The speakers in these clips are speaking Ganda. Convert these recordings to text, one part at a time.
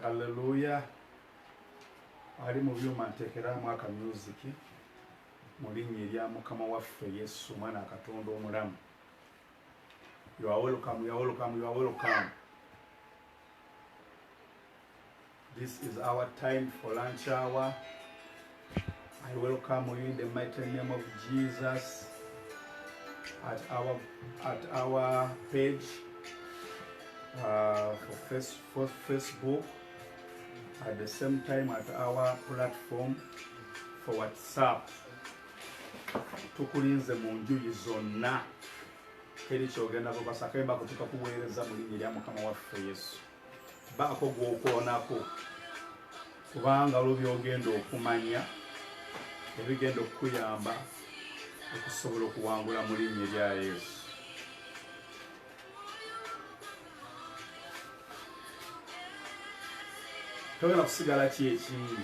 Haleluya. Ali mu byuma nteekeramu akamyuziki mu linnya erya Mukama waffe Yesu omwana Katonda omulamu. You are welcome, you are welcome, you are welcome. This is our time for lunch hour. I welcome you in the mighty name of Jesus at our at our page uh, for, face, for Facebook. At the same time at our platform for WhatsApp. Tukulinze mu njuyi zonna teri kyogenda bubasakemba kutuka kuweereza mu linnya lya Mukama waffe Yesu. baako gwokoonako kubanga olwo byogenda okumanya ebigenda okukuyamba okusobola okuwangula mu linnya erya yesu togenda kusigala ki ekingi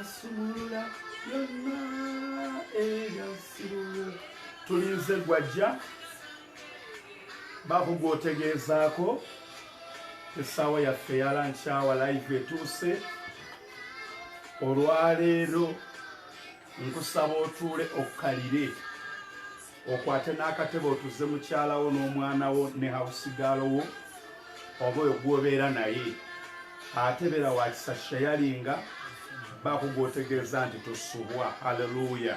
asumulula yonna eyasiruwo tulinze gwajja baako gwotegeezaako esaawa yaffe yalankyawa live etuuse olwaleero nkusaba otuule okkalire okwate n'akatebe otuze mukyala wo n'omwana wo ne hawusigaalo wo oba oyo gwobeera naye ate beera wakisa shayalinga bakugwotegeeza nti tusubwa haleluya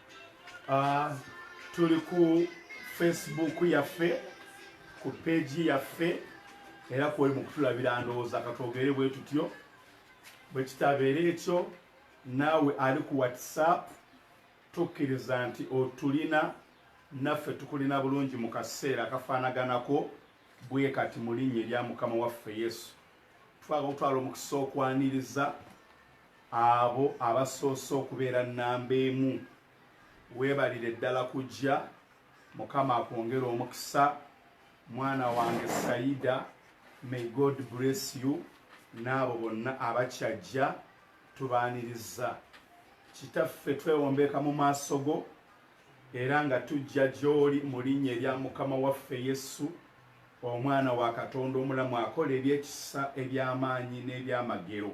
Ah, tuli ku facebook yaffe ku peegi yaffe era kwoli mu kutulabira ndowooza katwogere bwe tutyo bwe kitabeera ekyo naawe ali ku whatsapp tukkiriza nti otulina naffe tukulina bulungi mu kaseera kafaanaganako bwe kati mu linnya erya mukama waffe yesu twagala okutwala omukisa okwaniriza Abo abasoose okubeera nnamba emu weebalire ddala kujja. Mukama akwongere omukisa mwana wange Saida, may God bless you n'abo bonna abakyajja tubaaniriza. Kitaffe twewombeeka mu maaso go era nga tujja gy'oli mu linnya erya Mukama waffe Yesu, omwana wa Katonda omulamu akola ebyekisa eby'amaanyi n'ebyamagero.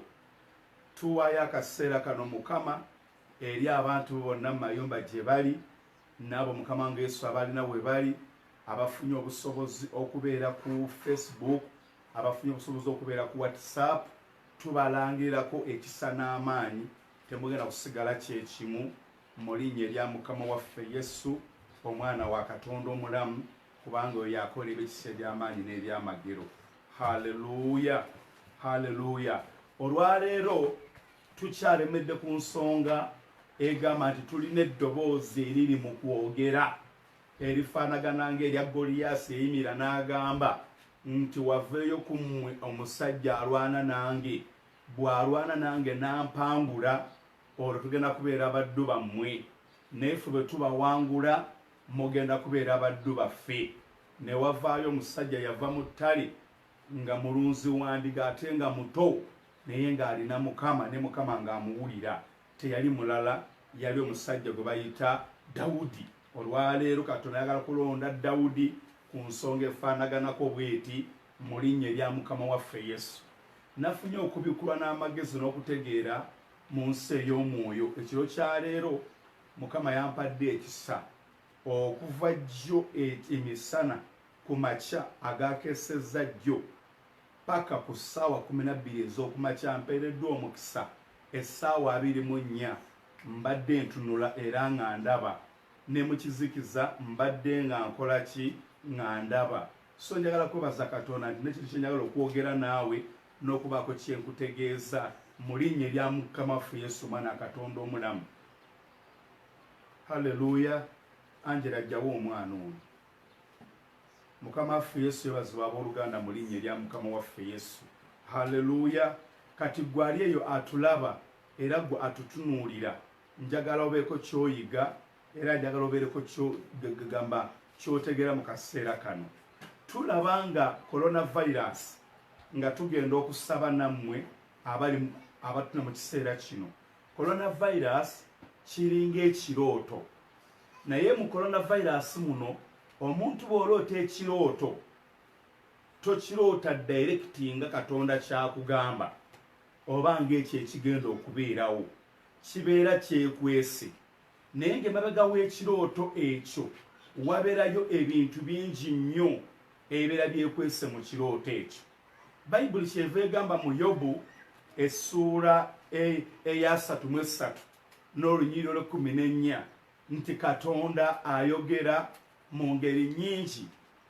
Tuwaayo akaseera kano, Mukama, eri abantu Bo bonna mu mayumba gye bali, n'abo, Mukama wange Yesu, abalina we bali, abafunye obusobozi okubeera ku Facebook, abafunye obusobozi okubeera ku WhatsApp. Tubalangirirako ekisa n'amaanyi. Temugenda kusigala kye kimu. Mu Linnya erya Mukama waffe Yesu, Omwana wa Katonda omulamu, kubanga oyo akola ebikisa eby'amaanyi n'ebyamagero haleluya haleluya olwaleero tukyalemedde ku nsonga egamba nti tulina eddoboozi eriri mu kwogera erifaanagana ngaerya goliyaasi eyimira n'agamba nti waveeyo ku mmwe omusajja alwana nange bw'alwana nange nampangula olwo tugenda kubeera baddu bammwe naye fe bwe tubawangula Mugenda kubeera baddu baffe. Ne wavaayo omusajja yava mu ttale, nga mulunzi wa ndiga ate nga muto, naye nga alina Mukama, ne Mukama nga amuwulira. Teyali mulala, yali omusajja gwe bayita Dawudi. Olwa leero Katonda ayagala kulonda Dawudi ku nsonga efaanaganako bw'eti, mu Linnya erya Mukama waffe Yesu. Nafunye okubikkulwa n'amagezi n'okutegeera mu nsi ey'omwoyo, ekiro kya leero, Mukama yampadde ekisa okuva jjo emisana ku makya agaakesezza jjo paka ku ssaawa kumi na bbiri ez'okumakya mpeereddwa omukisa essaawa abiri mu nnya mbadde ntunula era nga ndaba ne mu kizikiza mbadde nga nkola ki nga ndaba so njagala kwebaza katonda nti nekintu kyenjagala okwogera naawe n'okubaako kyenkutegeeza mu linnya erya mukama waffe yesu omwana katonda omulamu halleluya angela ajjawo omwana ono mukama waffe yesu yebazibwa abooluganda mu linnya erya mukama waffe yesu halleluya kati gwe ali eyo atulaba era gwe atutunuulira njagala obeeko kyoyiga era njagala obeereko gamba kyotegeera mu kaseera kano tulaba nga coronavirus nga tugenda okusaba nammwe abali abatuna mu kiseera kino Coronavirus kiringa ekirooto naye mu coronavirus muno omuntu bw'oloota ekirooto tokiroota dayirekiti nga katonda kyakugamba oba ng'ekyo ekigenda okubeerawo kibeera kyekwese naye ng'emabega w'ekirooto ekyo waberayo ebintu bingi nnyo ebibeera byekwese mu kirooto ekyo bayibuli kyeva egamba mu yobu essuula e, eyasatu mu essatu n'olunyiriro lwekumi n'ennya nti katonda ayogera mu ngeri nyingi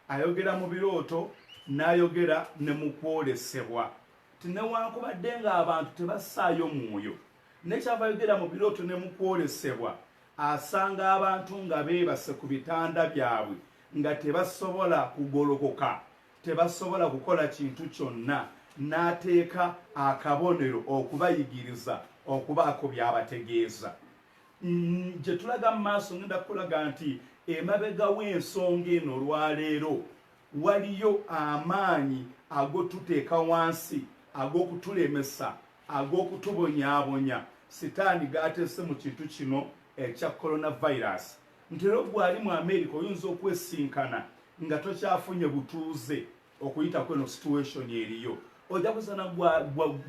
ayogera mu birooto n'ayogera ne mu kwolesebwa ti newankubadde ng'abantu tebassaayo mwoyo nekyava yogera mu birooto ne mu kwolesebwa asanga abantu nga beebase ku bitanda byabwe nga tebasobola kugolokoka tebasobola kukola kintu kyonna n'ateeka akabonero okubayigiriza okubaako by'abategeeza mm, gye tulaga mu maaso ngenda kukulaga nti emabega w'ensonga eno olwaleero waliyo amaanyi agotuteeka wansi ag'okutulemesa ag'okutubonyaabonya sitaani gaateese mu kintu kino ekya coronavirus nti era gwali mu america oyinza okwesinkana nga tokyafunye butuuze okuyita kweno situation eriyo ojja kusana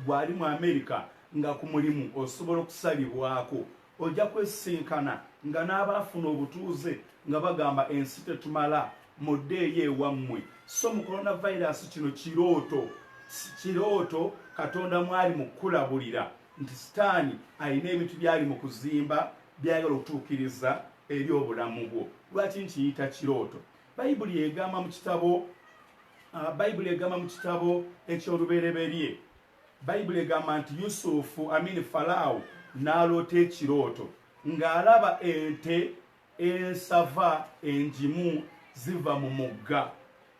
gwali mu america nga ku mulimu osobola okusalibwako ojja kwesinkana nga n'abaafuna obutuuze nga bagamba ensi tetumala muddeeyo ewammwe so mu coronavirus kino kirooto kirooto katonda mwali mukulabulira nti sitaani alina ebintu byali mu kuzimba by'ayagala okutuukiriza eri obulamu bwo. Lwaki nkiyita kirooto? Bayibuli egamba mu kitabo ah, Bayibuli egamba mu kitabo eky'olubereberye Bayibuli egamba nti Yusufu amini Falaawo n'aloota ekirooto ng'alaba ente ensava engimu ziva mu mugga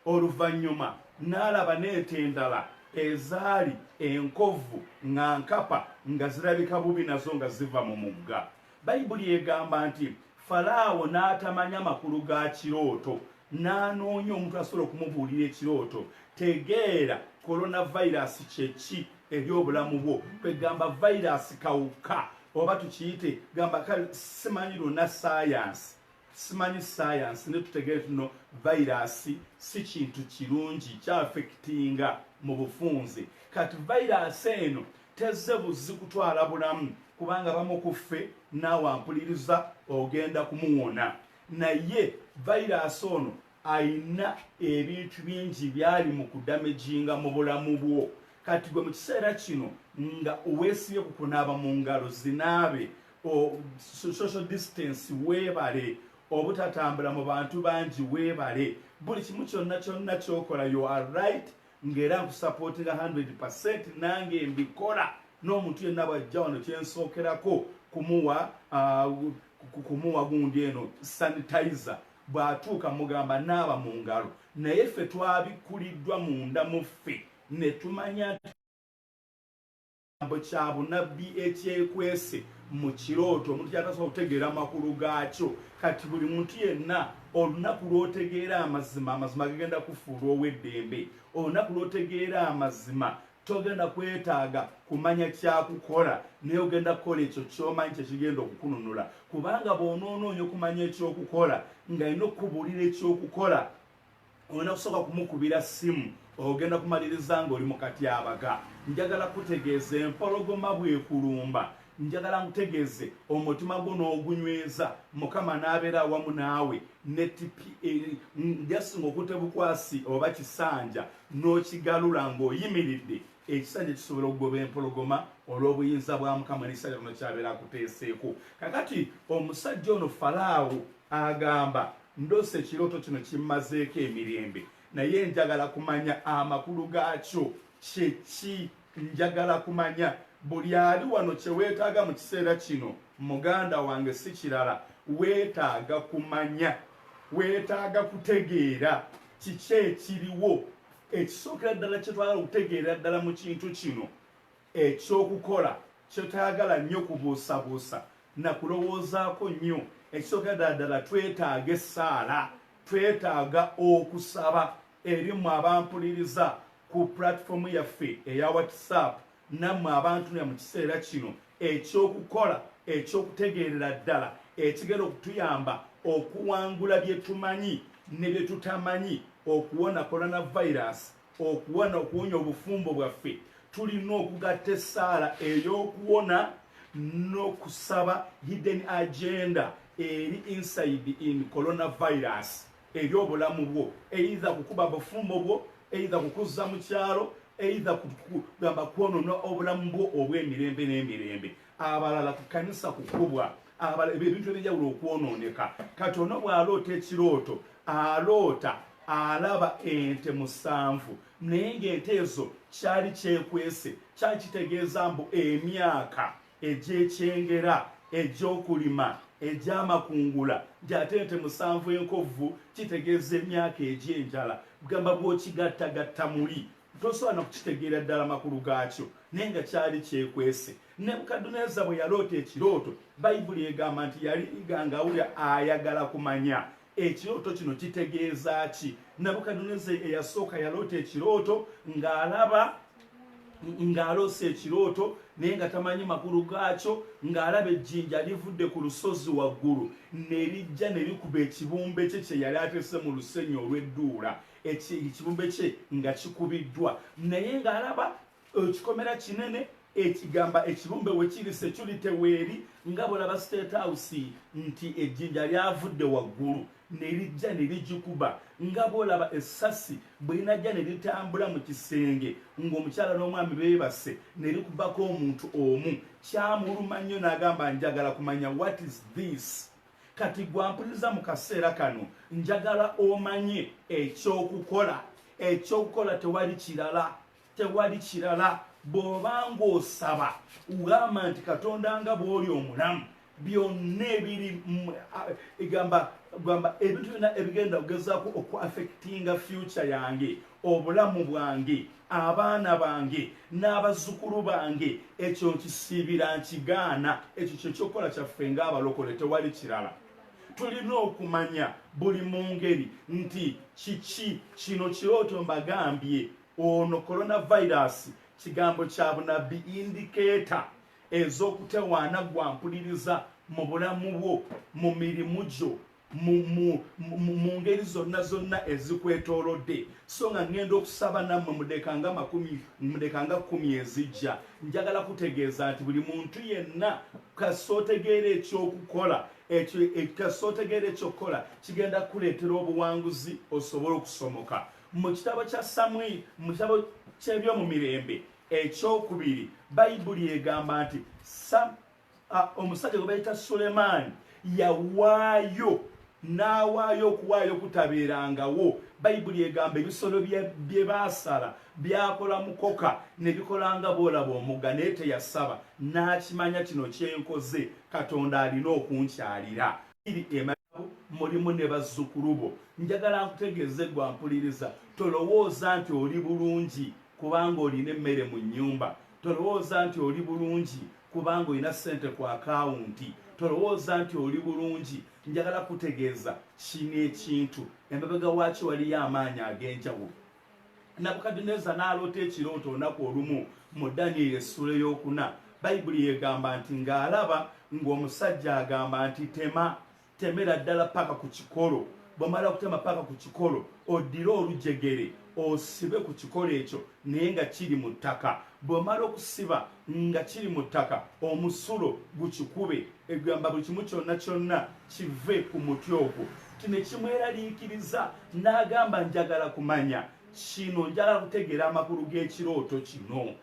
Oluvannyuma n'alaba n'ente endala ezaali enkovvu nga nkapa nga zirabika bubi nazo nga ziva mu mugga. Bayibuli egamba nti, Falaawo n'atamanya makulu ga kirooto n'anoonya omuntu asobola okumubuulira ekirooto. Tegeera kolonavayiraasi kye ki eri obulamu bwo. Kwegamba vayiraasi kawuka oba tukiyite gamba kale simanyi lwonna ssaayansi. simanyi sayansi ne tutegere nti no vayiraasi si kintu kirungi kyafekitinga mu bufunze kati vayiraasi eno tezze buzzi kutwala bulamu kubanga bamu ku ffe naawe ampuliriza ogenda kumuwona naye vayiraasi ono ayina ebintu bingi byali mu kudamejinga mu bulamu bwo kati gwe mu kiseera kino nga owesibye ku kunaaba mu ngalo zinaabe social distance weebale obutatambula mu bantu bangi weebale buli kimu kyonna kyonna kyokola you are right ngaera nkusapootinga 100 percent nange mbikola n'omuntu yenna bwajja wano kyensookerako kumuwa uh, kumuwa gundi eno sanitizer bw'atuuka mugamba naaba mu ngalo naye ffe twabikuliddwa munda mu ffe ne tumanya ekigambo kya bunabbi ekyekwese mu kirooto omuntu kyatasobola okutegeera amakulu gaakyo kati buli muntu yenna olunaku lw'otegeera amazima amazima gagenda kufuulwa ow'eddembe olunaku lw'otegeera amazima togenda kwetaaga kumanya kyakukola naye ogenda kukola ekyo kyomanyi kyekigenda okukununula kubanga bwonoonoonya okumanya ekyokukola nga alina okukubuulira ekyokukola olina kusooka kumukubira ssimu ogenda kumaliriza ng'oli mu katyabaga njagala kutegeeza empologoma bwekulumba njagala nkutegeeze omutima gwo n'ogunyweza mukama n'abeera awamu naawe njasinga eh, okute bukwasi oba kisanja n'okigalula ng'oyimiridde ekisanja kisobola okugoba empologoma olw'obuyinza bwa mukama n'ekisanja kino kyabeera akuteeseeko kakati omusajja ono falaawo agamba Ndose ekiroto kino kimmazeeko emirembe naye njagala kumanya amakulu gaakyo kyeki njagala kumanya buli ali wano kyewetaaga mu kiseera kino muganda wange si kirala weetaaga kumanya weetaaga kutegeera kiki ekiriwo ekisookera ddala kyetwagala okutegeera ddala mu kintu kino Eky'okukola kyetayagala nnyo kubuusabuusa na kulowoozaako nnyo. Ekisooka ddala ddala twetaaga essaala, twetaaga okusaba eri mmwe abampuliriza ku pulatifomu yaffe eya WhatsApp nammwe abantunira mu kiseera kino. Eky'okukola eky'okutegeerera ddala ekigenda okutuyamba okuwangula bye tumanyi ne bye tutamanyi okuwona kolonavayiraasi okuwana okuwonya obufumbo bwaffe tulina okugatta essaala ey'okuwona n'okusaba hidden agenda eri inside in coronavirus eri obulamu bwo eitha kukuba bufumbo bwo eitha kukuzza mu kyalo eitha kugamba kwonona obulamu bwo obw'emirembe n'emirembe abalala ku kanisa kukubwa abala ebintu ebyenjawulo okwonooneka kati ono bw'aloota ekirooto aloota alaba ente musanvu naye ng'ente ezo kyali kyekwese kyali kitegeeza mbu emyaka egy'ekyengera egy'okulima egy'amakungula nti ate ente musanvu enkovvu kitegeeza emyaka egy'enjala gamba bw'okigattagatta muli Tosobola na kukitegeera ddala makulu gaakyo, naye nga kyali kyekwese. Nebukadduneeza bwe yaloota ekirooto, Bayibuli egamba nti yali iganga awulira ayagala kumanya ekirooto kino kitegeeza ki. Nebukadduneeza eyasooka yaloota ekirooto ng'alaba ng'aloosa ekirooto naye nga tamanyi makulu gaakyo ng'alaba ejjinja livudde ku lusozi waggulu ne lijja ne likuba ekibumbe kye kye yali atese mu lusenyi olw'edduula ekibumbe kye nga kikubiddwa naye ng'alaba ekikomera kinene ekigamba ekibumbe wekiri securi teweeri nga bwolaba state house nti ejjinja lyavudde waggulu nerijja nerigikuba nga bwolaba essasi bwerinajja neritambula mu kisenge ng'omukyala n'omwami beebase nerikubako omuntu omu kyamuluma nnyo n'agamba njagala kumanya what is this kati gwampuliriza mu kaseera kano njagala omanye ekyokukola ekyokukola tewali kirala tewali kirala bw'oba ng'osaba ugamba nti katonda nga bw'oli omulamu byonna ebiri egamba gamba ebintu byonna ebigenda okugezaako okuaffectinga future yange obulamu bwange abaana bange n'abazzukulu bange ekyo nkisiibira nkigaana ekyo kyekyokukola kyaffe ng'abalokole tewali kirala tulina okumanya buli mu ngeri nti kiki kino kirooto mbagambye ono coronavirus kigambo kya bunabbi indikeeta ez'okutewaana gwampuliriza mu bulamu bwo mu mirimu gyo mu ngeri zonna zonna ezikwetoolodde so nga ŋŋenda okusaba nammwe mudekanga makumi mudekanga kkumi ezijja njagala kutegeeza nti buli muntu yenna kasootegeera ekyokukola ekyo e, kasootegeera ekyokukola kigenda kukuleetera obuwanguzi osobole okusomoka mu kitabo kya samwiri mu kitabo ky'ebyomu mirembe ekyokubiri bayibuli egamba nti omusajja gwe bayita sulemaani yawaayo n'awaayo okuwaayo kutabeerangawo bayibuli egamba ebisolo bye baasala byakola mukoka ne bikolanga boolaba omugga naye teyasaba n'akimanya kino kyenkoze katonda alina okunkyalira mulimu ne bazzukulu bo njagala nkutegeeze gwampuliriza tolowooza nti oli bulungi kubanga olina emmere mu nnyumba tolowooza nti oli bulungi kubanga olina ssente ku akawunti tolowooza nti oli bulungi njagala kutegeeza kino ekintu emabega waaki waliyo amaanyi ag'enjawulo nabukadineza n'aloota ekirooto olunaku olumu mu danieli essula ey'okuna bayibuli yegamba nti ng'alaba ng'omusajja agamba nti tema temera ddala paka ku kikolo bwemala okutema paka ku kikolo oddire olujegere osibe ku kikolo ekyo naye nga kiri mu ttaka bwemala okusiba nga kiri mu ttaka omusulo gukikube egamba buli kimu kyonna kyonna kive ku muti ogwo kino ekimweraliikiriza n'agamba njagala kumanya kino njagala kutegeera amakulu g'ekirooto kino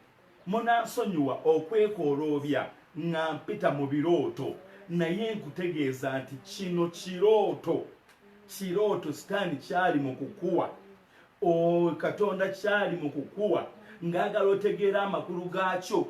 Munansonyiwa okwekooloobya nga mpita mu birooto naye nkutegeeza nti kino kirooto, kirooto sitaani kyali mu kukuwa, ooh, Katonda kyali mu kukuwa ng'agala otegeere amakulu gaakyo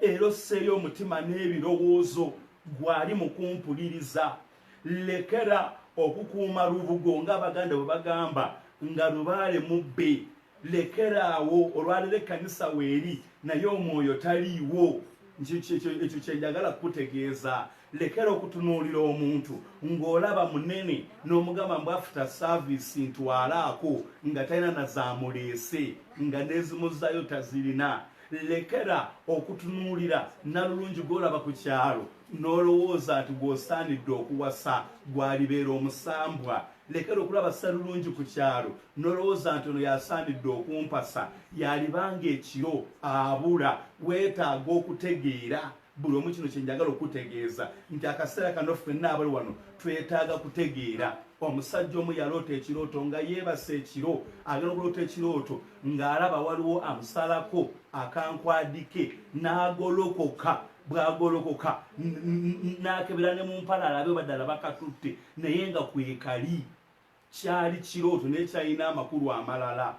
era osseeyo omutima n'ebirowoozo gwali mu kumpuliriza. lekera okukuuma lubugo ng'abaganda bwe bagamba nga lubaale mubbe lekera awo olwalero ekkanisa weeri naye omwoyo taliiwo ekyo kyenjagala kukutegeeza lekera okutunuulira omuntu ng'olaba munene n'omugamba mbu afta saavisi ntwalaako nga talina na zaamuleese nga n'ezimuzayo tazirina lekera okutunuulira nalulungi gwolaba ku kyalo n'olowooza nti gw'osaanidde okuwasa gw'alibeera omusambwa lekera okulaba ssalulungi ku kyalo n'olowooza nti ono y'asaanidde okumpasa y'aliba ng'ekiro abula weetaaga okutegeera buli omu kino kye njagala okutegeeza nti akaseera kano ffenna abali wano twetaaga kutegeera omusajja omu yaloota ekirooto nga yeebasa ekiro agenda okuloota ekirooto ng'alaba waliwo amusalako akankwadike n'agolokoka bwagolokoka nakebera ne mumpala alabe badala bakatutte naye nga kwekali kyali kirooto naye kyalina amakulu amalala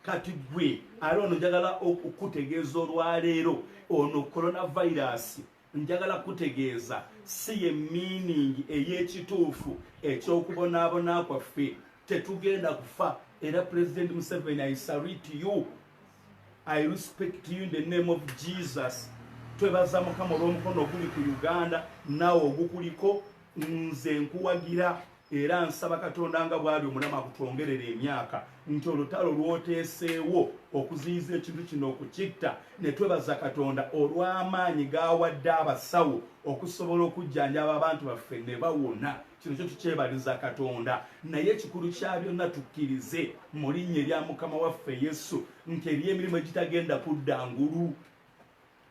kati gwe ali ono njagala okukutegeeza olwaleero ono coronavirus njagala kukutegeeza si ye miiningi ey'ekituufu ekyokubonaabona kwaffe tetugenda kufa era pulezidenti museveni i salute you I respect you in the name of Jesus. Twebaza mukama olw'omukono oguli ku Uganda nawe ogukuliko nze nkuwagira era nsaba katonda nga bwali omulamu akutwongerera emyaka nti olutalo lwoteeseewo okuziyiza ekintu kino okukitta ne twebaza katonda olw'amaanyi gaawadde abasawo okusobola okujjanjaba abantu baffe ne bawona kino kyo tukyebaliza katonda naye ekikulu kya byonna tukkirize mu linnya erya mukama waffe yesu nti eriyo emirimu egitagenda kudda ngulu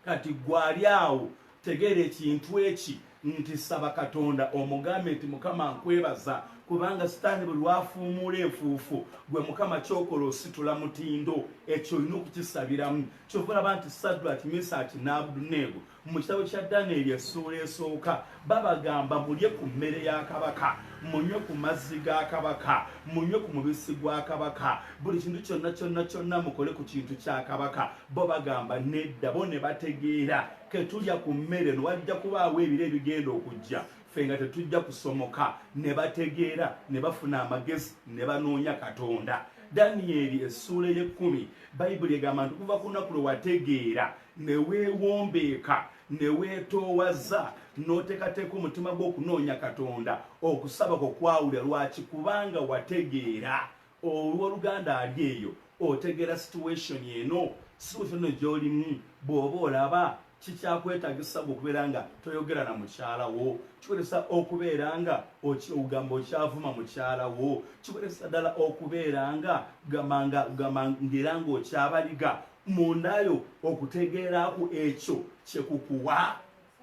kati gwali awo tegeera ekintu eki nti saba katonda omugambe nti mukama nkwebaza kubanga sitaani bwe lwafuumuula enfuufu gwe mukama kyokola ositula mutindo ekyo olina okukisabiramu kyova olaba nti sadraki misaki n'abuduneego mu kitabo kya danyeri essuula esooka babagamba mulye ku mmere ya kabaka munywe ku mazzi ga kabaka munywe ku mubisi gwa kabaka buli kintu kyonna kyonna kyonna mukole ku kintu kya kabaka bo bagamba nedda bo ne bategeera ketulya ku mmere no wajja kubaawo ebiro ebigenda okujja ffe nga tetujja kusomoka ne bategeera ne bafuna amagezi ne banoonya katonda danyeri essuula ey'ekkumi bayibuli egamba nti okuva ku lunaku lwe wategeera ne weewombeeka ne weetoowaza n'oteekateeka omutima gw'okunoonya katonda okusaba kwo kwawulira lwaki kubanga wategeera olw'oluganda ali eyo otegeera situation eno situation eno gy'olimu bw'oba olaba kikyakwetagisa gwe okubeera nga toyogera na mukyala wo kikozesa okubeera nga ogamba okyavuma mukyala wo kikozesa ddala okubeera nga gamba ngaera ngaokyabaliga mundayo okutegeeraku ekyo kyekukuwa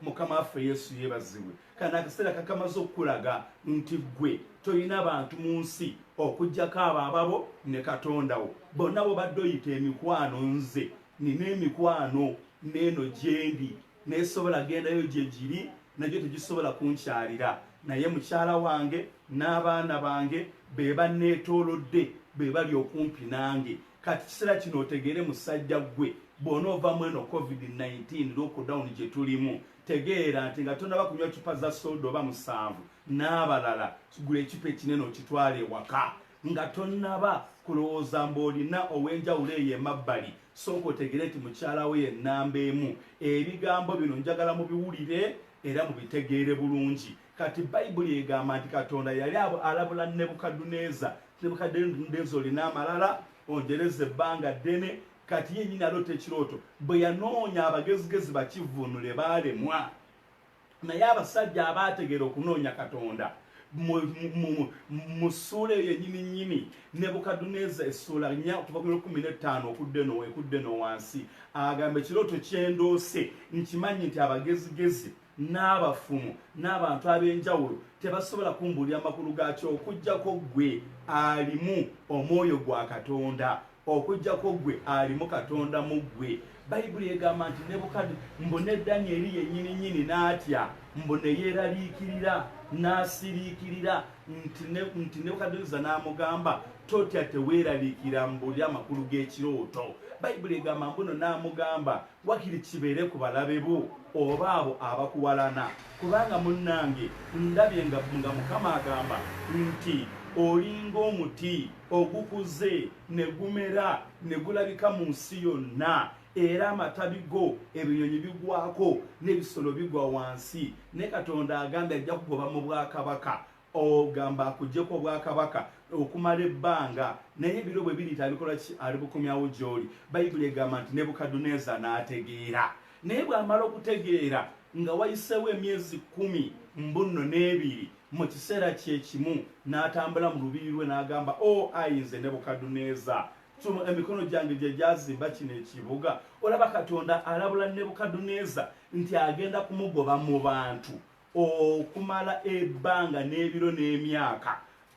mukama waffe yesu yebazibwe kana akaseera kakamaze okukulaga nti gwe tolina bantu mu nsi okugyako abo ababo ne katondawo bonna bobadde oyita emikwano nze nina emikwano neeno gyendi nesobola gendayo gyegiri nagyo tegisobola kunkyalira naye mukyala wange n'abaana bange be banneetoolodde be bali okumpi nange kati kisera kino otegere musajja gwe bona ova mweno covid-19 lockdown gyetulimu tegeera nti nga tonaba kunywa cupa za soda oba musanvu n'abalala gula ecupa ekinene okitwala ewaka nga tonaba kulowooza mbu olina ow'enjawulo eyo emabbali sooka otegere nti mukyalawo yennamba emu ebigambo bino njagala mubiwulire era mubitegeere bulungi Kati Bayibuli egamba nti Katonda yali alabula Nebukadduneeza. Nebukadduneeza olina amalala, onjereza ebbanga ddene. Kati ye nyini aloota ekirooto. Bwe yanoonya abagezigezi bakivvuunule baalemwa. Naye abasajja abaategeera okunoonya Katonda mu ssuula eyo enyini nyini Nebukadduneeza essuula nya okuva ku lukumi n'ettaano okudde no ekudde no wansi agamba ekirooto kyendoose nkimanyi nti abagezigezi n'abafumu n'abantu ab'enjawulo tebasobola kumbuulira makulu gaakyo okuggyako ggwe alimu omwoyo gwa katonda okuggyako ggwe alimu katonda mu ggwe bayibuli egamba nti nebukadi mbu ne danyeri yennyini nyini n'atya mbu ne yeeraliikirira n'asiriikirira nti nebukadineza n'amugamba totya teweeraliikira mbuulira amakulu g'ekirooto bayibuli egamba mbuno n'amugamba Wakiri kibeere ku balabe bo oba abo abakuwalana kubanga munnange ndabye nga nga Mukama agamba nti olinga omuti ogukuze ne gumera ne gulabika mu nsi yonna era amatabi go ebinyonyi bigwako n'ebisolo bigwa wansi ne Katonda agambye ajja kugoba mu bwakabaka ogamba akujeko obwakabaka okumala ebbanga naye ebiro bwe biri tabikola ki ali bukomyawo gyoli bayibuli egamba nti nebukaduneza n'ategeera naye bw'amala okutegeera nga wayiseewo emyezi kumi mbunno n'ebiri mu kiseera kyekimu n'atambula mu lubiri lwe n'agamba o oh, ayinze nebukaduneza tuno emikono gyange gye gyazimba kino ekibuga olaba katonda alabula nebukaduneza nti agenda kumugoba mu bantu okumala ebbanga n'ebiro n'emyaka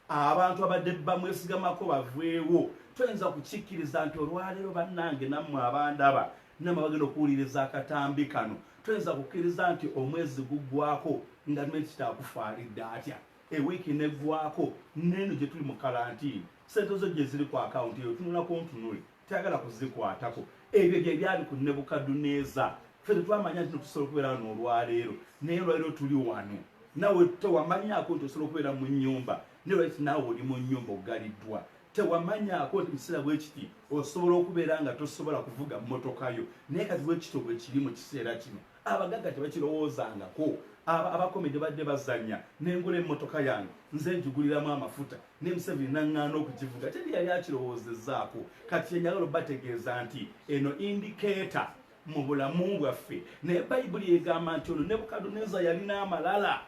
abantu abadde bamwesigamako baveewo toyinza kukikkiriza nti olwaleero bannange nammwe abandaba nammwe bagenda okuwuliriza akatambi kano toyinza kukkiriza nti omwezi guggwako nga menti kitaakufaalidde atya ewiiki neggwako neeno gye tuli mu kalantiini sente zo gye ziri ku akawunti eyo tunula ku ntunule tayagala kuzikwatako ebyo bye byali ku nebukadduneeza ffe tetwamanya nti tusobola okubeera wano olwaleero naye olwaleero tuli wano nawe tewamanyako nti osobola okubeera mu nnyumba naye lwaki naawe oli mu nnyumba ogaliddwa tewamanyako nti mukiseera bwekiti osobola okubeera nga tosobola kuvuga mmotokayo naye kati bwekito bwekiri mu kiseera kino abagagga tebakirowoozangako abakomedi badde bazanya nengula emmotoka yange nze njiguliramu amafuta ne museveni naŋŋaana okugivuga teri yali akirowoozezaako kati kyenyagala obategeeza nti eno indikeeta mu bulamu bwaffe naye bayibuli egamba nti ono nebukaduneza yalina amalala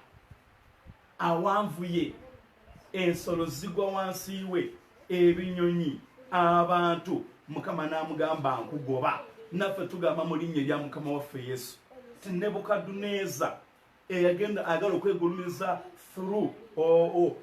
awanvuye ensolo zigwa wansi we ebinyonyi abantu mukama n'amugamba nkugoba naffe tugamba mu linnya erya mukama waffe yesu ti nebukaduneza eyagenda ayagala okwegulumiza through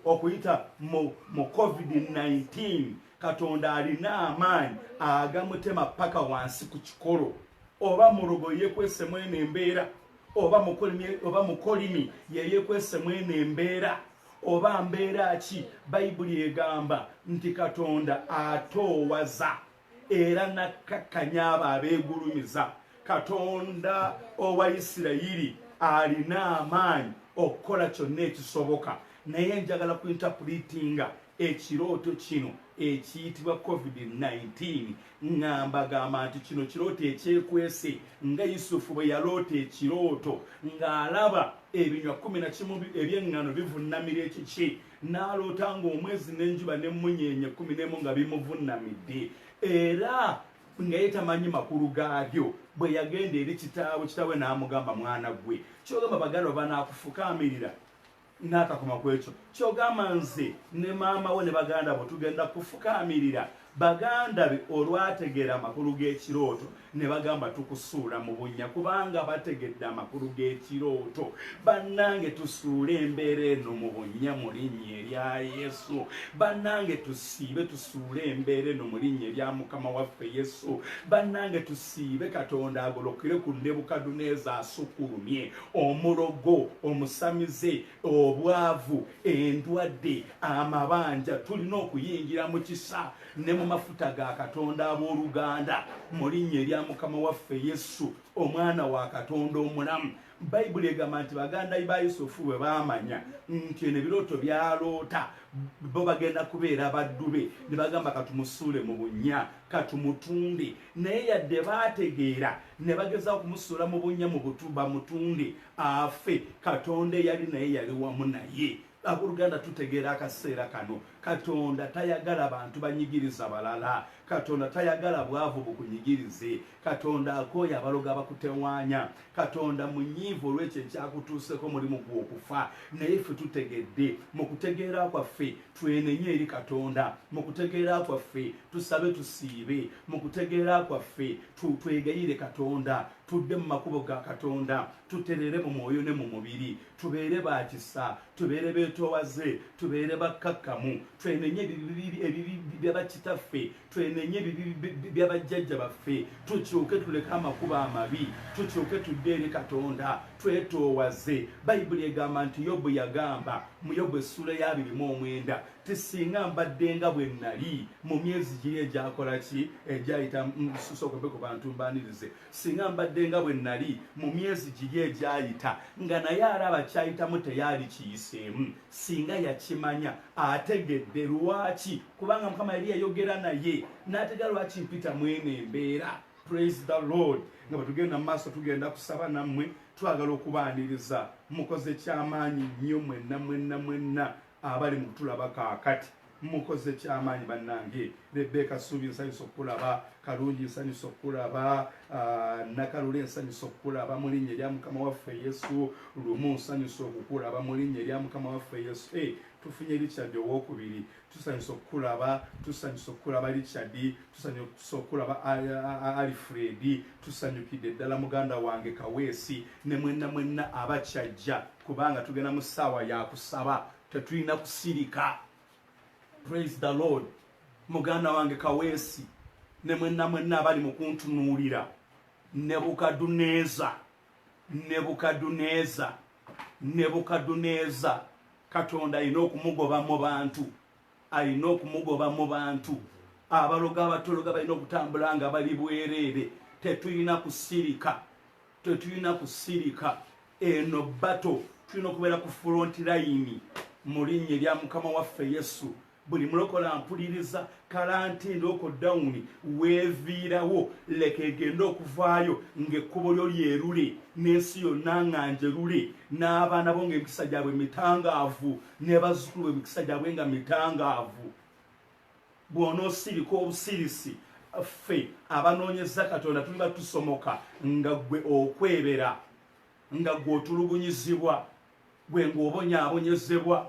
okuyita mu covid-19 katonda alina amaanyi agamutema paka wansi ku kikolo oba mulogo yekwesemu eno embeera oba mukolimi yeyekwesemu eno embeera oba mbeera ki bayibuli egamba nti katonda atoowaza era nakkakkanya abo abeegulumiza katonda owa isirayiri alina amaanyi okukola kyonna ekisoboka naye njagala ku intapulitinga ekirooto kino ekiyitibwa covid-19 nga mbagamba nti kino kirooto ekyekwese nga yusufu bwe yaloota ekirooto ng'alaba ebinywa kumi na kimu eby'eŋŋano bivunnamira ekiki n'aloota ng'omwezi n'enjuba n'emmunyeenye ekkumi n'emu nga bimuvunnamidde era nga ye tamanyi makulu gaabyo bwe yagenda eri kitaawe kitaawe n'amugamba mwana gwe kyogamba bagala oba naakufukaamirira n'akakoma ku ekyo kyogamba nze ne maama we ne baganda bwe tugenda kufukaamirira Baganda be olwategeera amakulu g'ekirooto ne bagamba tukusuula mu bunnya kubanga bategedde amakulu g'ekirooto. Bannange tusuule embeera eno mu bunnya mu linnya erya Yesu. Bannange tusiibe tusuule embeera eno mu linnya erya Mukama waffe Yesu. Bannange tusiibe Katonda agolokere ku Nebukadduneeza asukulumye, omulogo, omusamize, obwavu endwadde amabanja tulina okuyingira mu kisa ne mu mafuta ga katonda ab'oluganda mu linnya erya mukama waffe yesu omwana wa katonda omulamu bayibuli egamba nti baganda ba yusufu bwe baamanya nti eno ebirooto byaloota bo bagenda kubeera baddu be ne bagamba katumusuule mu bunnya katumutunde naye yadde baategeera ne bageza okumusuula mu bunnya mu butu bamutunde afe katonda eyali naye yali wamu naye aboluganda tutegeera akaseera kano katonda tayagala bantu banyigiriza balala katonda tayagala bwavu bukunyigirize katonda akooyo abaloga bakutewaanya katonda munyiivu olwekyo ekyakutuuseko mulimu gwokufa naye ffe tutegedde mu kutegeera kwaffe twenenye eri katonda mu kutegeera kwaffe tusabe tusiibe mu kutegeera kwaffe twegayire katonda tudde mu makubo ga katonda tutereere mu mwoyo ne mu mubiri tubeere ba kisa tubeere beetoowaze tubeere bakkakkamu twenenye ebibi byabakitaffe twenenye ebibi byabajjajja baffe tukyuke tuleke amakubo amabi tukyuke tudde eri katonda twetoowaze bayibuli egamba nti yobu yagamba mu yobu essula y'abirimu omwenda Ti singa mbadde nga bwe nnali mu myezi giri egyakola ki egyayita sokobe ku bantu mbanirize singa mbadde nga bwe nnali mu myezi giri egyayita nga naye alaba kyayitamu teyaali kiyiseemu singa yakimanya ategedde lwaki kubanga mukama yali yayogera naye n'ategera lwaki mpita mwene embeera praise the lord nga bwetugenda mu maaso tugenda kusaba nammwe twagala okubaaniriza mukoze kyamaanyi nnyo mwenna mwenna mwenna abali mu kutulaba kaakati mukoze kyamaanyi bannange rebeka suubi nsanyusa okukulaba kalungi nsanyusa okukulaba ah, nakalule nsanyusa okukulaba mu linnya erya mukama waffe yesu lumu nsanyusa okukulaba mu linnya erya mukama waffe yesu eh, tufunye richard owokubiri tusanyusa okukulaba tusanyusa okukulaba richard tusanyusa okukulaba alfred tusanyukidde ddala muganda wange kaweesi ne mwenna mwenna abakyajja kubanga tugenda mu ssaawa ya kusaba tetulina kusirika praise the lord muganda wange kaweesi ne mwenna mwenna abali mu kuntunuulira nebukaduneeza nebukaduneeza nebukaduneeza katonda alina okumugoba mu bantu alina okumugoba mu bantu abaloga abatologa balina okutambula nga bali bwereere tetulina kusirika tetulina kusirika eno bato tulina okubeera ku front layini mu linnya erya mukama waffe yesu buli mulokola mpuliriza kalanti ndooko dawuni weeviirawo leka egende okuvaayo ng'ekkubo lyo lyerule n'ensi yonna nga njerule n'abaana bo ng'emikisa gyabwe mitangaavu ne bazzukulu bwe emikisa gyabwe nga mitangaavu bw'onoosirika obusirisi ffe abanoonyeza katonda tuliba tusomoka nga ggwe okwebera nga ggwe otulugunyizibwa gwe ng'obonyaabonyezebwa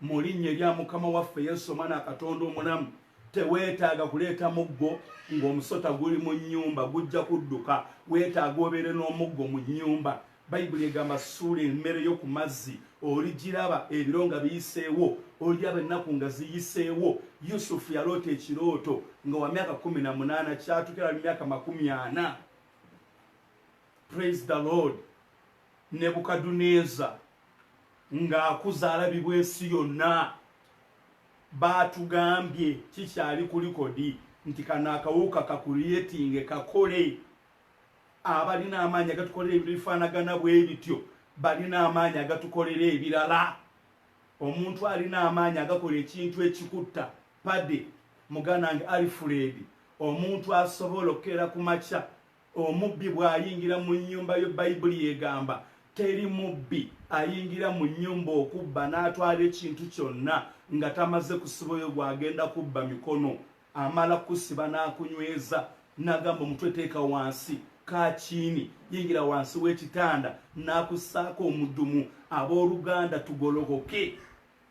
mu linnya erya mukama waffe yesu omwana katonda omulamu teweetaaga kuleeta muggo ng'omusota guli mu nnyumba gujja kudduka weetaaga obeere n'omuggo mu nnyumba Bayibuli egamba suula emmere yo ku mazzi oligiraba ebiro nga biyiseewo oliraba ennaku nga ziyiseewo yusufu yaloota ekirooto nga wa myaka kumi na munaana kyatukira mu myaka makumi ana praise the lord nebukaduneeza ng'akuza alabibwa ensi yonna baatugambye kikyali ku likodi nti kano akawuka kakuliyetinge kakole abalina amaanyi agatukolera ebintu bifaanagana bwe bityo balina amaanyi agatukolera ebirala omuntu alina amaanyi agakola ekintu ekikutta pade muganda nge alfred omuntu asobola okukeera ku makya omubbi bw'ayingira mu nnyumba yo bayibuli egamba teri mubbi ayingira mu nnyumba okubba n'atwala ekintu kyonna nga tamaze kusibayo gw'agenda kubba mikono amala kusiba n'akunyweza n'agamba omutwe teeka wansi kakiini yingira wansi w'ekitanda n'akussaako omudumu abooluganda tugolokoke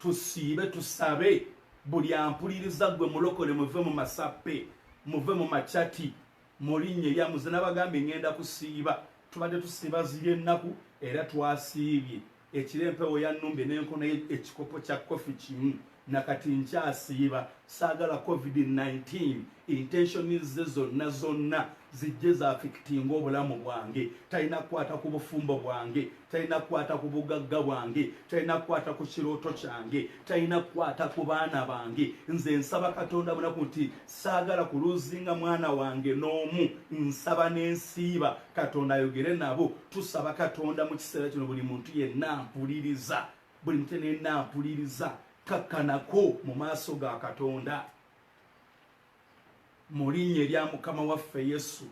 tusiibe tusabe buli ampuliriza gwe mulokole muve mu masappe muve mu macati mulinnye yamuze n'abagambye ngenda kusiiba tubadde tusiiba ziri ennaku era twasiibye ekiro empewo yanumbye nenkona ekikopo kya kofi kimu nakati nkyasiiba saagala covid-19 intentionize zonna zonna zijje zafikitinga obulamu bwange talina kukwata ku bufumbo bwange talina kukwata ku bugagga bwange talina kukwata ku kirooto kyange talina kukwata ku baana bange nze nsaba katonda munaku nti saagala kuluzinga mwana wange n'omu nsaba n'ensiiba katonda ayogere nabo tusaba katonda mu kiseera kino buli muntu yenna mpuliriza buli muntu yenna mpuliriza kakkanako mu maaso ga katonda mu linnya erya mukama waffe yesu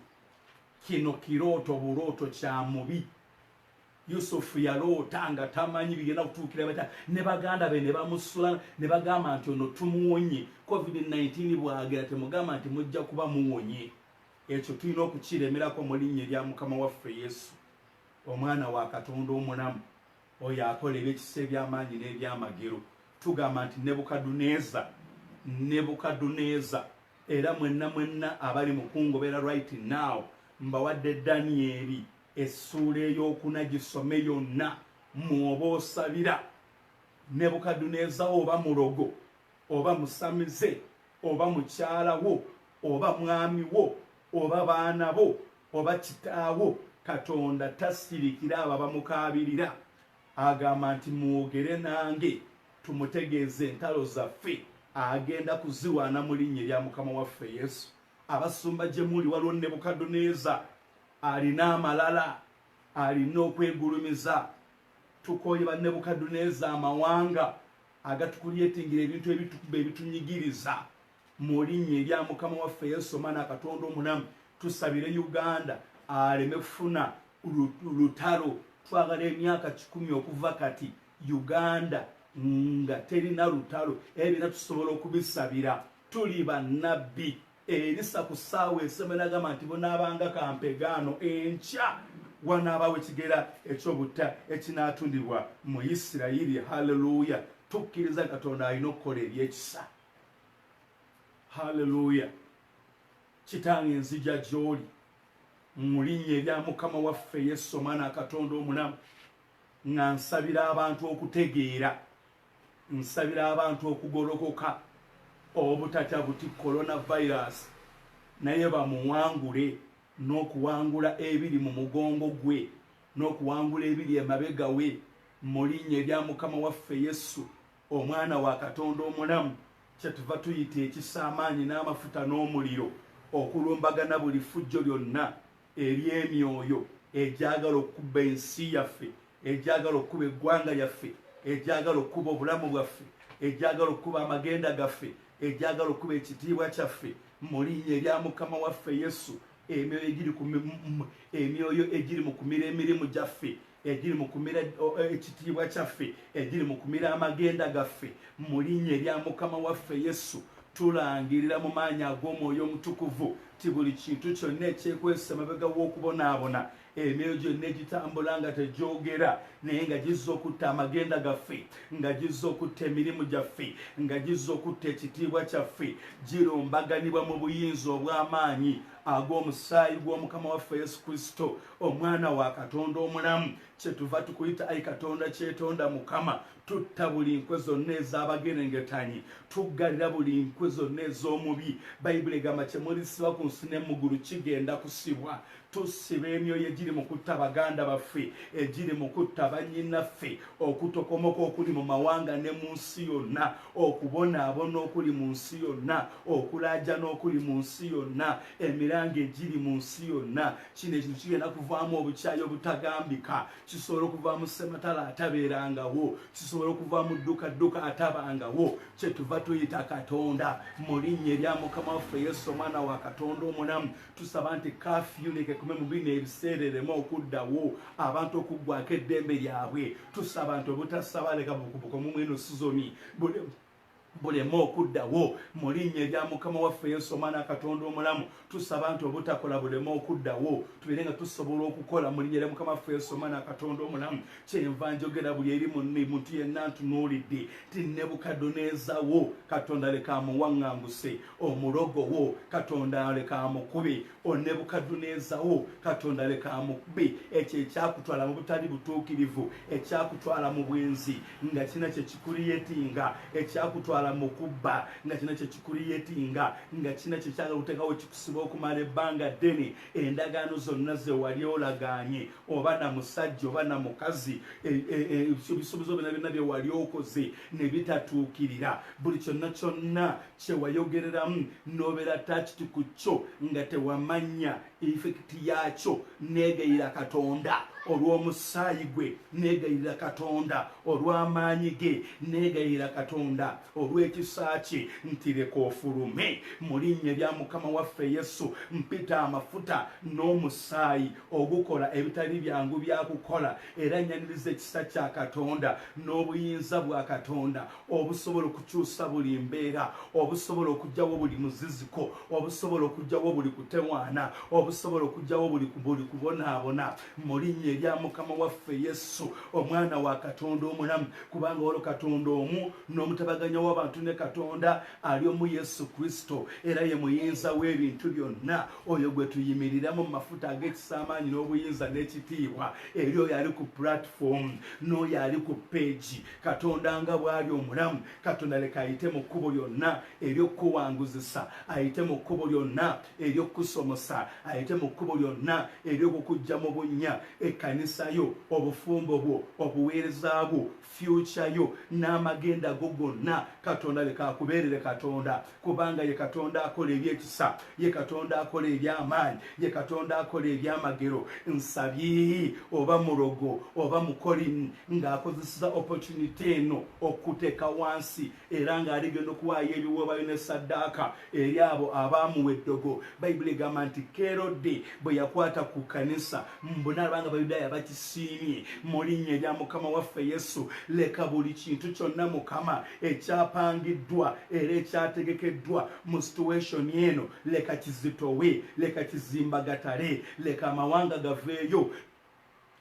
kino kirooto bulooto kya mubi yusufu yaloota nga tamanyi bigenda kutuukira bata ne baganda be ne bamusula ne bagamba nti ono tumuwonye covid-19 bwagera temugamba nti mujja kuba muwonye Ekyo tulina okukiremerako mu linnya erya Mukama waffe Yesu, Omwana wa Katonda omulamu, oyo akola ebyekisa eby'amaanyi n'ebyamagero. Tugamba nti, Nebukadduneeza, Nebukadduneeza, era mwenna mwenna abali mu kungobera right now, mbawadde Danyeri essuula ey'okuna, gisome yonna, mw'oba osabira. Nebukadduneeza oba mulogo. oba musamize oba mukyala wo oba mwami wo oba baana bo oba kitaawo katonda tasirikira abo abamukaabirira agamba nti mwogere nange tumutegeeze entalo zaffe agenda kuziwaana mu linnya erya mukama waffe yesu abasumba gye muli waliwo nebukadduneeza alina amalala alina okwegulumiza tukooye banebukadduneeza amawanga agatukulyetingira ebintu ebitukuba ebitunyigiriza mulinya erya mukama waffe yesu omwana akatonda omulamu tusabire uganda aleme kufuna lutalo twagala emyaka kikumi okuva kati uganda nga terina lutalo ebyo era tusobola okubisabira tuli banabbi Erisa ku ssaawa esema nagamba nti bunaabanga kampegaano enkya wanaabawo ekigera ekyobutta ekinaatundibwa mu isirayiri halleluya tukkiriza katonda alina okukola ebyekisa halleluya kitange nzija gyoli mu linnya erya mukama waffe yesu omwana akatonda omulamu nga nsabira abantu okutegeera nsabira abantu okugolokoka obutatya buti coronavirus naye bamuwangule n'okuwangula ebiri mu mugongo gwe n'okuwangula ebiri emabega we mu linnya erya mukama waffe yesu omwana wa katonda omulamu kyetuva tuyita ekisa amaanyi n'amafuta n'omuliro okulumbagana buli fujjo lyonna eri emyoyo egyagala okukuba ensi yaffe egyagala okukuba eggwanga lyaffe egyagala okukuba obulamu bwaffe egyagala okukuba amagenda gaffe egyagala okukuba ekitiibwa kyaffe mu linya erya mukama waffe yesu emyoyo egiri ku mi- m- emyoyo egiri mu kumira emirimu gyaffe egiri mu kumira eh, ekitiibwa kyaffe egiri mu kumira amagenda gaffe mu linnya erya mukama waffe yesu tulangirira mu maanyi ag'omwoyo omutukuvu ti buli kintu kyonna ekyekwesa emabega w'okubonaabona emyoyo gyonna egitambula nga tegyogera naye nga gizza okutta amagenda gaffe nga gizza okutta emirimu gyaffe nga gizza okutta ekitiibwa kyaffe girumbaganibwa mu buyinza obw'amaanyi ag'omusaayi gw'omukama waffe yesu kristo omwana wa katonda omulamu kyetuva tukuyita ayi katonda kyetonda mukama tutta buli nkwe zonna ez'abagerengetanyi tuggalira buli nkwe zonna ez'omubi bayibuli egamba kyemulisiba ku nsi ne mugulu kigenda kusibwa tusiba emyoyo egiri mu kutta baganda baffe egiri mu kutta bannyinaffe okutokomoka okuli mu mawanga ne mu nsi yonna okubonaabona okuli mu nsi yonna okulaajana okuli mu nsi yonna emiranga egiri mu nsi yonna kino ekintu kigenda kuvaamu obukyayi obutagambika kisobola okuvaamu sematala atabeerangawo kisobola okuvaamu ddukadduka atabangawo kyetuva tuyita katonda mu linnya erya mukama waffe yesu omwana wa katonda omulamu tusaba nti kafyunike kume mu bino ebiseera ereme okuddawo abantu okuggwako eddembe lyabwe tusaba nti obutasabaleka bukubuka omumweno sizoni buleme okuddawo mu linnya erya mukama waffe yesu omwana katonda omulamu tusaba nti obutakola buleme okuddawo tubeere nga tusobola okukola mu linnya erya mukama waffe yesu omwana katonda omulamu kyenva njogera buli eri munni muntu yenna ntunuulidde ti nebukadoneezawo katonda leka amuwaŋŋanguse omulogo wo katonda leka amukube O Nebukadduneeza wo, Katonda leka amukube ekyo ekyakutwala mu butali butuukirivu, ekyakutwala mu bwenzi nga kirina kye kikuriyetinga, ekyakutwala mu kubba nga kirina kye kikuriyetinga, nga kirina kye kyagala okuteekawo kikusiba okumala ebbanga ddene. Endagaano zonna ze wali olagaanye, oba na musajja oba na mukazi, e, e, e, ebisuubizo byonna byonna bye wali okoze ne bitatuukirira, buli kyonna kyonna kyewayogereramu nobera takiti ku kyo nga tewamanya infekiti yakyo negayira katonda olw'omusaayi gwe negayirira katonda olw'amaanyi ge negayirira katonda olw'ekisa kye nti leka ofulume mu linnya lya mukama waffe yesu mpita amafuta n'omusaayi ogukola ebitali byangu byakukola era nyaniriza ekisa kya katonda n'obuyinza bwa katonda obusobola okukyusa buli mbeera obusobola okugyawo buli muziziko obusobola okugyawo buli kutewaana obusobola okugyawo buli kubonaabona mu linnya erya mukama waffe yesu omwana wa katonda omulamu kubanga walo katonda omu n'omutabaganya w'abantu ne katonda ali omu yesu kristo era ye muyinza w'ebintu byonna oyo gwe tuyimiriramu mu mafuta ag'ekisa amaanyi n'obuyinza n'ekitiibwa eri oyo ali ku pulatifomu n'oyo ali ku peegi katonda nga bwali omulamu katonda leka ayite mu kkubo lyonna eryokukuwanguzisa ayite mu kkubo lyonna eryokukusomosa ayite mu kkubo lyonna eryokukujja mu bunnya ekkanisa yo obufumbo bwo obuweereza bwo fyukya yo n'amagenda go gonna katonda leka akubeerere katonda kubanga ye katonda akola ebyekisa ye katonda akola ebyamaanyi ye katonda akola ebyamagero nsabye oba mulogo oba mukolini ng'akozeseza opportunity eno okuteeka wansi era ng'aligenda okuwaayo ebiwoobayo ne saddaaka eri abo abaamuwa eddogo bayibuli egamba nti kerode bwe yakwata ku kanisa mbunaalaba nga bayudaaya bakisiimye mu linnya erya mukama waffe yesu leka buli kintu kyonna mukama ekyapangiddwa era ekyategekeddwa mu situation eno leka kizitowe leka kizimba gatale leka amawanga gaveeyo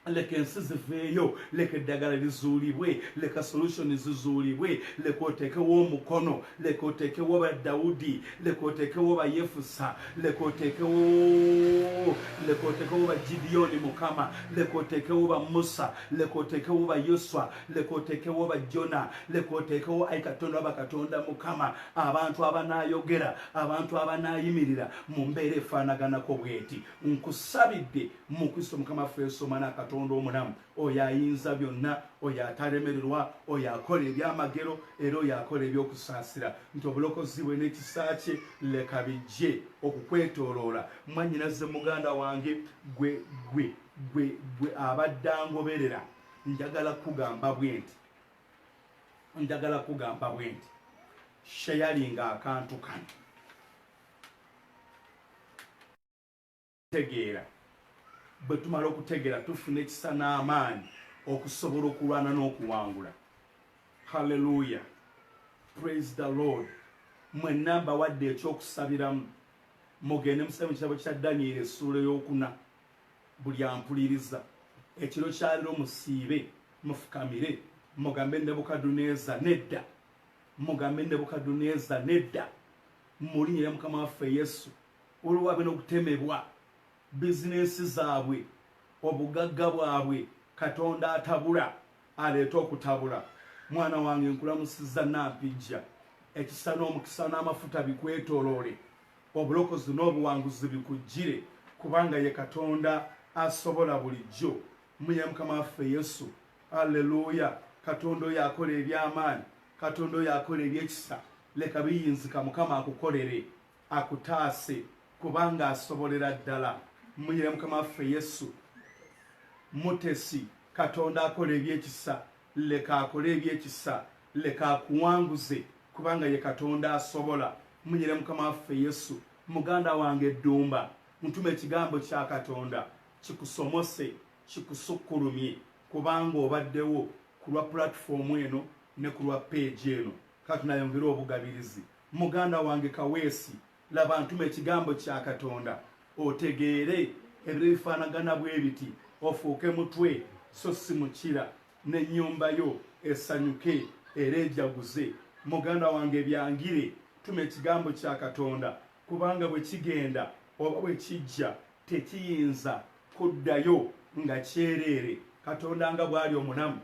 leka ensi ziveeyo leka eddagala lizuulibwe leka solution zizuulibwe leka oteekewo omukono leka oteekewo ba dawudi leka oteekewo bayefusa leka oteekewo leka oteekewo ba gidiyoni mukama leka oteekewo ba musa leka oteekewo ba yoswa leka oteekewo bajjona leka oteekewo ayi katonda waba katonda mukama abantu abanaayogera abantu abanaayimirira mu mbeera efaanaganako bweti nkusabidde mu kristo mukama ffe esomana katonda omulamu oyo ayinza byonna oyo atalemererwa oyo akola ebyamagero era oyo akola ebyokusaasira nti obulokozi bwe n'ekisa kye leka bijje okukwetooloola mwanyinaze muganda wange gwe gwe gwe gwe abadde angoberera njagala kugamba bwenti njagala kugamba bwenti shayalinga akantu kano tegeera bwe tumala okutegeera tufuna ekisa n'amaanyi okusobola okulwana n'okuwangula halleluya praise the lord mwenna mbawadde ekyokusabiramu mugende musabire mu kitabo kya danyeri essuula ey'okuna buli ampuliriza ekiro kyaliro musiibe mufukamire mugambe nebukaduneza nedda mugambe nebukaduneza nedda mulinya ya mukama waffe yesu olwo wabe nokutemebwa bizinensi zaabwe obugagga bwabwe katonda atabula aleeta okutabula mwana wange nkulamusiza nampijja ekisa n'omukisa n'amafuta bikwetoloole Obulokozi n'obuwanguzi bikujjire kubanga ye Katonda asobola bulijjo. Mmuye Mukama waffe Yesu. Alleluya! Katonda oyo akola eby'amaanyi, Katonda oyo akola eby'ekisa. Leka biyinzika Mukama akukolere, akutaase kubanga asobolera ddala. Mmuye Mukama waffe Yesu. Mutesi, Katonda akola eby'ekisa. leka akole ebyekisa leka akuwanguze kubanga ye katonda asobola munyire mukama waffe yesu muganda wange eddumba ntuma ekigambo kya katonda kikusomose kikusukkulumye kubanga obaddewo ku lwa pulatifomu eno ne ku lwa peegi eno kati nayongere obugabirizi muganda wange kaweesi Laba ntuma ekigambo kya Katonda otegeere ebiro ebifaanagana bwe biti, ofuuke mutwe so si mukira, n'ennyumba yo esanyuke era ejaguze. Muganda wange byangire, tuma ekigambo kya Katonda, kubanga bwe kigenda oba bwe kijja tekiyinza kuddayo nga kyereere. Katonda nga bw'ali omulamu,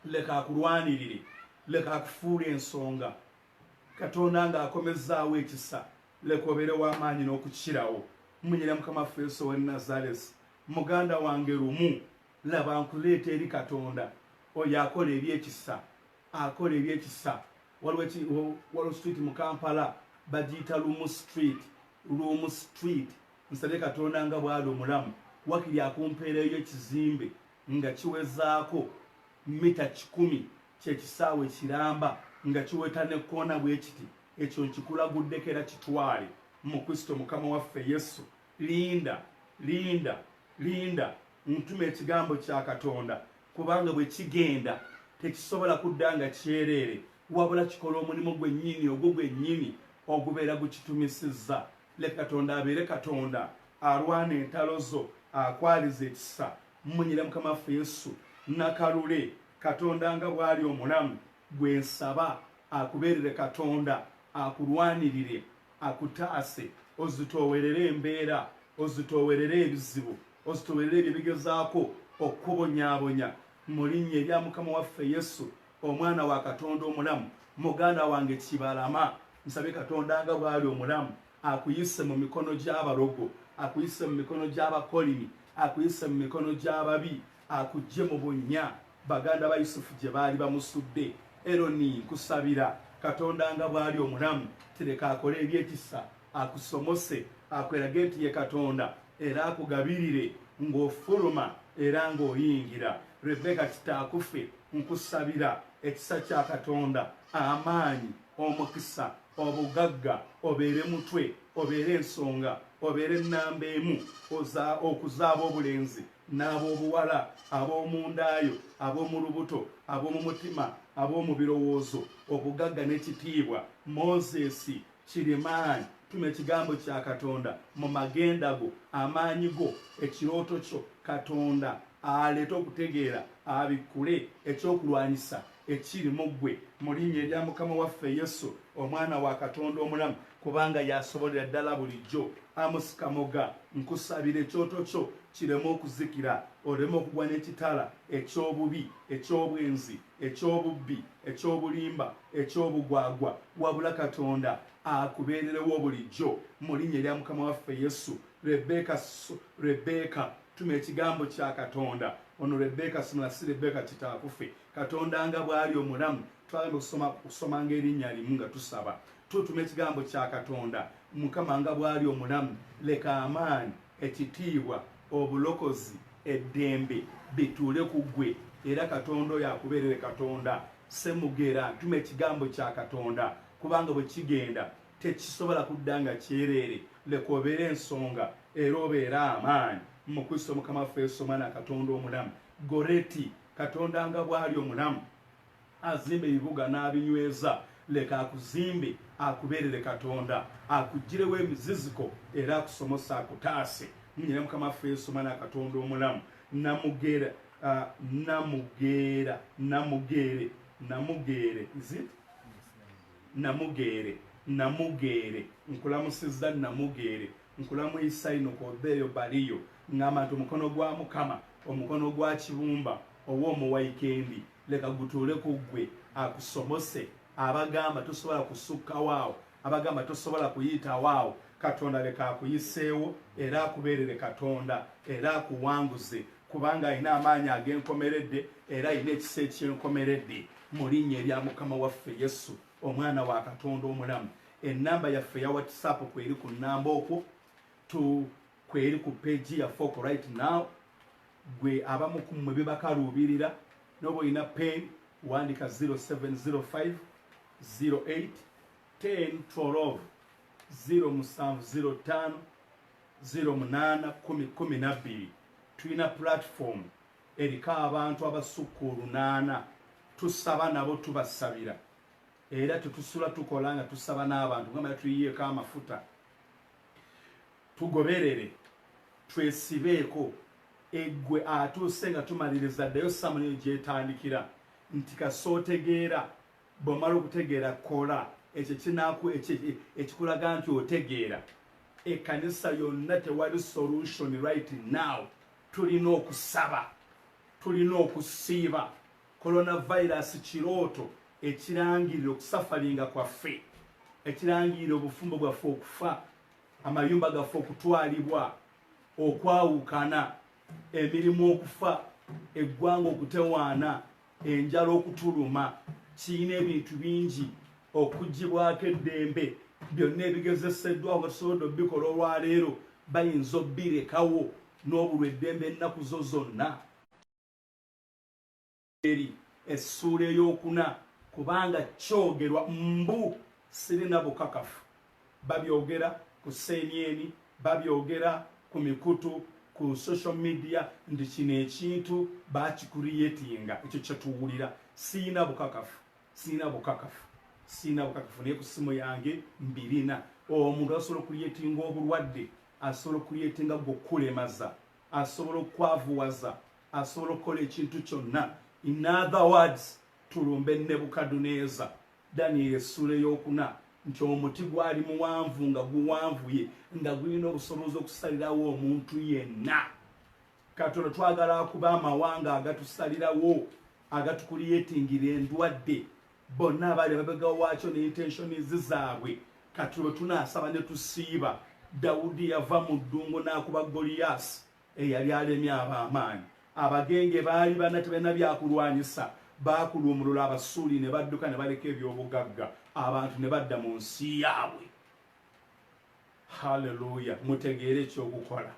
leka akulwanirire, leka akufuule ensonga. Katonda nga akomezzaawo ekisa leka obeere w'amaanyi n'okukirawo. Mmunyira Mukama waffe Yesu ow'e Nazaresi, muganda wange, lumu, laba, nkuleeta eri Katonda, Oyo akola eby'ekisa, akola eby'ekisa. Waliwo eki, wo, waliwo street mu Kampala, bagiyita Lumu Street, Lumu Street. Nsabye Katonda nga bw'Ali omulamu, wakiri akumpeereyo ekizimbe nga kiwezaako mita kikumi ky'ekisaawe ekiramba nga kiweta n'ekkoona bwe kiti, ekyo nkikulaguddeko era kitwale, mu Kristo Mukama waffe Yesu. Linda, linda, linda, ntuma Ekigambo kya Katonda, kubanga bwe kigenda, tekisobola kudda nga kyereere, wabula kikola omulimu gwennyini, ogwo gwennyini ogubeera gukitumisizza. Leka Katonda abeere Katonda, alwana entalo zo, akwalize ekisa, Mmunyire Mukama waffe Yesu Nakalule, Katonda nga bw'ali omulamu, gwe nsaba akubeerere Katonda, akulwanirire, akutaase, ozitoowerere embeera, ozitoowerere ebizibu, ozitoowerere ebyo ebigezaako okukubonyaabonya. Mu linnya erya Mukama waffe Yesu, Omwana wa Katonda omulamu, muganda wange Kibalama, nsabye Katonda nga bw'ali omulamu, akuyise mu mikono gy'abalogo akuyise mu mikono gy'abakolimi akuyise mu mikono gy'ababi akujje mu bunnya baganda ba yusufu gye baali bamusudde eroni nkusabira katonda nga bw'ali omulamu tireka akole ebyekisa akusomose akwerage nti ye katonda era akugabirire ng'ofuluma era ng'oyingira rebeka kitaakufe nkusabira ekisa kya katonda amaanyi omukisa obugagga obeere mutwe obeere ensonga obeere ennamba emu okuzaaba obulenzi n'ab'obuwala ab'omundaayo ab'omu lubuto ab'omu mutima ab'omu birowoozo obugagga n'ekitiibwa moses kirimaani tuma ekigambo kya katonda mu magenda go amaanyi go ekirooto kyo katonda aleete okutegeera abikkule ekyokulwanyisa Ekiri mu ggwe, mu Linnya erya Mukama waffe Yesu, Omwana wa Katonda omulamu, kubanga y'asobolera ddala bulijjo. Amos Kamoga, nkusabira ekyoto kyo kireme okuzikira, oleme okugwa n'ekitala eky'obubi, eky'obwenzi, eky'obubbi, eky'obulimba, eky'obugwagwa, wabula Katonda akubeererewo bulijjo, mu Linnya erya Mukama waffe Yesu. Rebecca, Rebecca. Tuma ekigambo kya Katonda. Ono Rebecca Simula si Rebecca Kitaakufe. Katonda nga bw'ali omulamu, twagenda okusoma okusomanga erinnya limu nga tusaba. Tutuma ekigambo kya Katonda. Mukama nga bw'ali omulamu, leka amaanyi, ekitiibwa, obulokozi, eddembe bituule ku ggwe. Era Katonda oyo akubeerere Katonda. Ssemugera, tuma ekigambo kya Katonda, kubanga bwe kigenda tekisobola kudda nga kyereere leka obeera ensonga era obeera amaanyi mu kristo mukama waffe yesu omwana katonda omulamu goreti katonda nga bw'ali omulamu azimba ebibuga n'abinyweza leka akuzimbe akubeerere katonda akugirewo emiziziko era akusomose akutaase nyina mukama waffe yesu omwana katonda omulamu namugera uh, namugera namugere namugere is it Namugeere, Namugeere, nkulamusizza Namugeere, nkulamuyisa inuka oveeyo baliyo, ngamba nti omukono gwa Mukama, omukono gwa Kibumba owa Omuwaikendi leka gutuule ku ggwe akusomose abagamba tosobola kusukkawo awo, abagamba tosobola kuyitawo awo, Katonda leka akuyiseewo era akubeerere Katonda era akuwanguze kubanga alina amaanyi ag'enkomeredde era alina ekisa eky'enkomeredde mu linnya erya mukama waffe yesu omwana wa katonda omulamu enamba yaffe ya whatsapp kweri ku namba okwo tu kweri ku peji yaffe oko right now gwe abamu kumwe bibakaluubirira noba olina pen wandika 0705 08 10 12 0 musanvu 05 0 munaana kumi kumi nabbiri Tulina platform eriko abantu abasukka olunaana tusaba nabo tubasabira era tetusula tukola nga tusaba n'abantu gamba tuyiyeeko amafuta tugoberere twesibeeko eggwe atuuse nga tumaliriza ddayo samunio gyetandikira nti kasootegeera Bw'omala okutegeera, kola ekyo ekinaaku ekikulaga nti otegeera. Ekkanisa yonna tewali solution right now. Tulina okusaba. Tulina okusiiba. Coronavirus kirooto ekirangirira okusafalinga kwaffe. Ekirangirira obufumbo bwaffe okufa. Amayumba gaffe okutwalibwa. Okwawukana. Emirimu okufa. Eggwanga okutewaana. enjala okutuluma kirina ebintu bingi okugibwako eddembe byonna ebigezeseddwa abasobodo bikola olwaleero bayinza obbirekawo n'obulwa eddembe ennaku zo zonna eri essuula eyokuna kubanga kyogerwa mbu sirina bukakafu babyogera ku seemyeni babyogera ku mikutu ku social media nti kino ekintu bakikuriyetinga ekyo kyetuwulira siina bukakafu siina bukakafu siina bukakafu naye ku simu yange mbirina omuntu asobola okuriyetinga obulwadde asobola okuriyetinga gwokulemaza asobola okwavuwaza asobola okukola ekintu kyonna in other words tulumbe nebukaduneza Danyeri essula ey'okuna nti omuti gwali muwanvu nga guwanvuye nga gulina obusobozi okusalirawo omuntu yenna katono twagala akuba amawanga agatusalirawo agatukuliyetingira endwadde bonna abaali babegawo waakyo ne intentionizi zaabwe kati lwe tunaasaba ne tusiiba dawudi yava mu ddungu n'akuba goliyaasi eyali alemye ab'amaanyi. Abagenge baali banna tebalina bya kulwanyisa. Baakuluumulula Abasuuli ne badduka ne baleka eby'obugagga, abantu ne badda mu nsi yaabwe. Haleluya! Mutegeere eky'okukola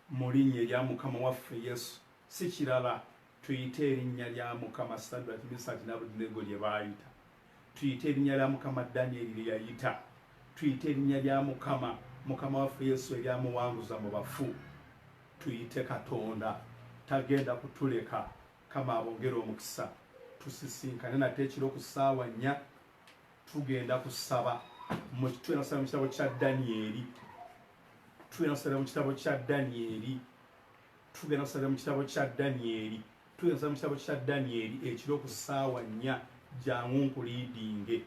mu linnya erya Mukama waffe Yesu, si kirala tuyite erinnya lya Mukama. Sadraki, Misaki n'Abeduneego lye baayita. tuyite erinnya lya mukama danyeri lye yayita tuyite erinnya lya mukama mukama waffe yesu eryamuwanguza mu bafu tuyite katonda tagenda kutuleka kama abongere omukisa tusisinkane nate ekiro ku ssaawa nnya tugenda kusaba mukitwena kusaba mu kitabo kya danyeri twena kusaba mu kitabo kya danyeri tugenda kusabira mu kitabo kya danyeri tugenda kusabira mu kitabo kya danyeri ekiro ku ssaawa nnya jangu nkuliidinge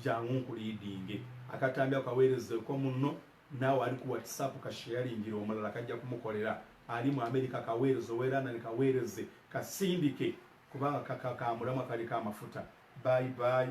jangu nkuliidinge akatambi ako kaweerezeeko munno naawe ali ku whatsapp kasheyalingira omulala kajja kumukolera ali mu amerika kaweereze oweranani kaweereze kasindike kubanga kakakamulamwa kaliko amafuta bayi bayi